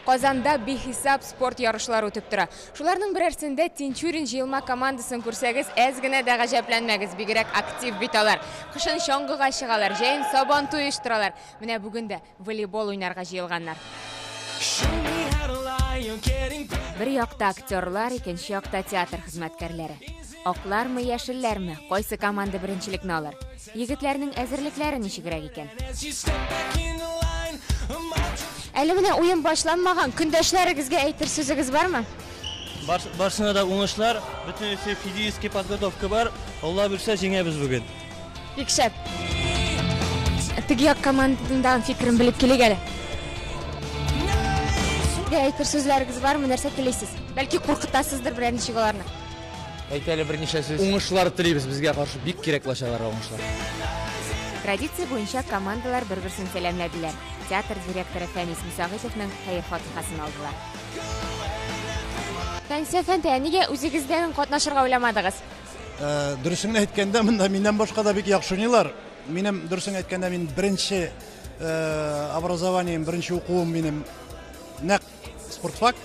Казанда бихисап спорт ярышлары үтеп тора. Шуларның берәрсендә Тинчурин җыелма командасын күрсәгез, әз генә дә гаҗәпләнмәгез, бигрәк актив бит алар. Кышын чаңгыга чыгалар, җәен Сабантуй оештыралар. Менә бүген дә волейбол уйнарга җыелганнар. Бер якта актерлар, икенче якта театр хезмәткәрләре. Аклармы, яшелләрме, кайсы команда беренчелекне алыр? Егетләрнең әзерлекләре ничегрәк икән? Әле генә уен башланмаган, көндәшләрегезгә әйтер сүзегез бармы? Бар, барсына да уңышлар, бөтенесе физически подготовка бар. Алла бирсә, җиңәбез бүген. Бик шәп. Теге як командадагы фикерен белеп килик әле. Әйтер сүзләрегез бармы, нәрсә телисез? Бәлки куркытасыздыр берәр ничек аларны? Әйт әле берничә сүз. Уңышлар телибез безгә каршы бик кирәк лачаларга уңышлар. Традиция буенча командалар бер-берсен сәламләделәр. Театр директоры Фәнис Мусагыйповның хәер фатихасын алдылар. Фәнсәфән тә, нигә үзегездән катнашырга уйламадыгыз? Э, дөресен әйткәндә, монда миннән башка да бик яхшы уйныйлар. Минем дөресен әйткәндә, мин беренче э, образованием, беренче укуым минем нәкъ Спортфак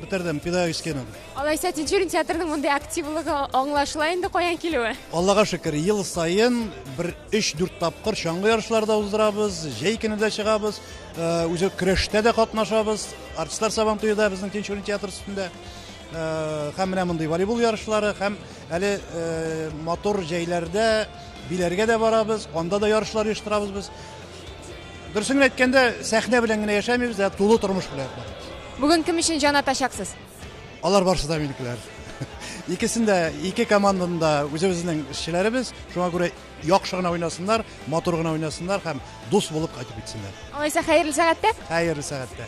бетердем, педагогическийны. Алайса Тинчурин театрының мондый активлыгы аңлашыла инде каян килүе? Аллага шөкер, ел саен бер 3-4 тапкыр чаңгы ярышлары да уздырабыз, җәй көне дә чыгабыз, э, үзе көрәштә дә катнашабыз, артистлар сабан туе да безнең Тинчурин театр өстендә. Э, һәм менә мондый волейбол ярышлары, һәм әле э, матур җәйләрдә биләргә дә барабыз, анда да ярышлар оештырабыз без. Дөресен әйткәндә, сәхнә белән генә яшәмибез, ә тулы тормыш белән яшибез. Бүген кем өчен җан атачаксыз? Алар барысы да минекеләр. Икесен дә, ике команданы да үзебезнең эшчеләребез. Шуңа күрә яхшы гына уйнасыннар, матур гына уйнасыннар һәм дус булып кайтып китсеннәр. Алайса, хәерле сәгатьтә. Хәерле сәгатьтә.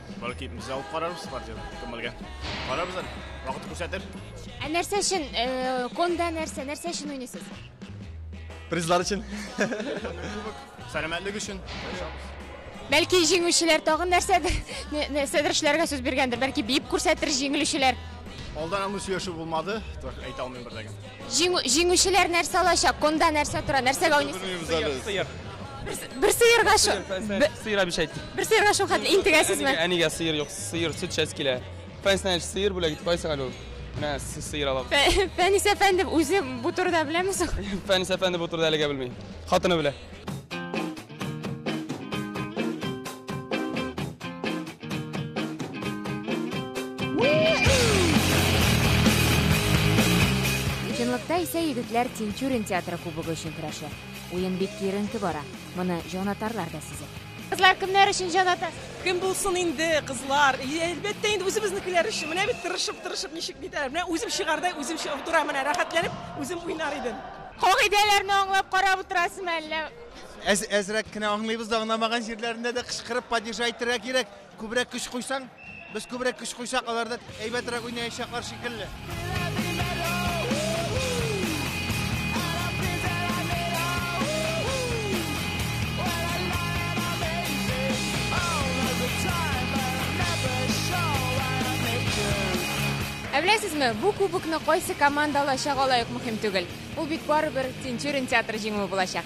Бәлки без алып карарбыз партияне көмелгә. Карарбыз әле. Вакыт күрсәтер. Ә нәрсә өчен э, конда нәрсә, нәрсә өчен уйныйсыз? Призлар өчен. Сәламәтлек өчен. Бәлки җиңүчеләр тагын нәрсәдер, нә- нәрсәдер эшләргә сүз биргәндер. Бәлки биеп күрсәтер җиңелүчеләр. Алдан аны сөйләшү булмады. Так, Әйтә алмыйм бер дә. Җиңү, җиңүчеләр нәрсә алачак? Конда нәрсә тора? Нәрсәгә уйныйсыз? Белмибез әле. Сыер. Бер сыерга шо, бе- Сыер обещать. бер сыерга шул хәтле интегәсезме? Әнигә сыер юк, сыер сөт шәс килә. Фәнснәч сыер бүләк итеп кайсың әле ул? Менә с- сыер алам. Фә- Фәнис әфәнде үзе бу турыда беләме соң? Фәнис әфәнде бу турыда әлегә белми. Хатыны белә. Чынлыкта исә егетләр Тинчурин театры кубогы өчен көрәшә. Уен бик киеренке бара. Моны җанатарлар да сизә. Кызлар кемнәр өчен җаната? Кем булсын инде, кызлар? Әлбәттә инде үзебезнекеләр өчен. Менә бит тырышып, тырышып ничек нитәләр. Менә үзем чыгардай, үзем утыра менә рәхәтләнеп, үзем уйнар идем. Кагыйдәләрне аңлап карап утырасызмы әллә? Әз, әзрәк кенә аңлыйбыз да, аңламаган җирләрендә дә кычкырып падежа әйтергә кирәк. Күбрәк көч куйсаң, без күбрәк көч куйсак, алар да әйбәтрәк уйнаячаклар шикелле. Ә беләсезме, бу кубокны кайсы команда алачак алай ук мөһим түгел. Бу бит барыбер Тинчурин театры җиңүе булачак.